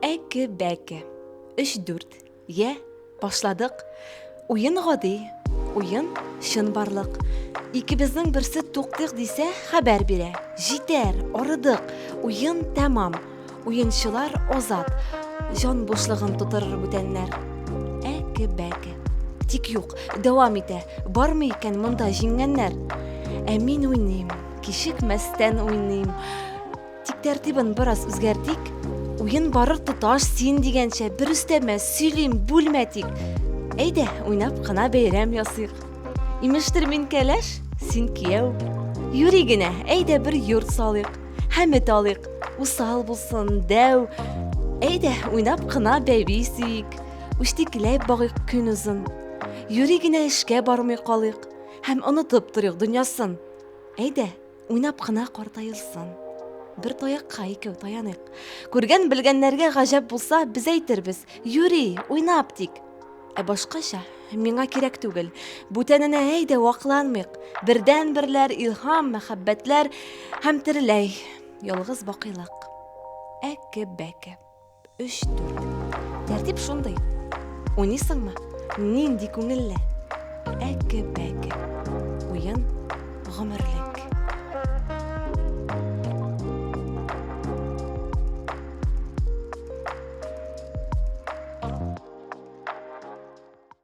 Әке-бәке. Өч-дүрт. Йә, башладык. Уен гади, уен чынбарлык. Икебезнең берсе туктыйк дисә, хәбәр бирә. Җитәр, арыдык. Уен тәмам. Уенчылар азат. Җан бушлыгын тутырыр бүтәннәр. Әке-бәке. Тик юк, дәвам итә. Бармы икән монда җиңгәннәр? Ә мин уйныйм, кичекмәстән уйныйм. Тик тәртибен бераз үзгәртик. Уен барыр тоташ син дигәнчә бер өстәмә сөйлим, бүлмә тик. Әйдә, уйнап кына бәйрәм ясыйк. Имештер мин кәләш, син кияү. Юри генә, әйдә бер йорт салыйк. Хәмет алыйк, усал булсын, дәү. Әйдә, уйнап кына бәби сөйик. Үштекиләп багыйк көн озын. Юри генә эшкә бармый калыйк. Һәм онытып торыйк дөньясын. Әйдә, Уйнап кына картаелсын. Бер таякка икәү таяныйк. Күргән белгәннәргә гаҗәп булса, без әйтербез, юри, уйнап тик. Ә башкача миңа кирәк түгел. Бүтәненә әйдә вакланмыйк. Бердән берләр илһам, мәхәббәтләр һәм тереләй ялгыз бакыйлык. Әке бәке. Өч-дүрт. Тәртип шундый. Уйныйсыңмы? Нинди күңелле! Әкке-бәкке. Уен гомерлек.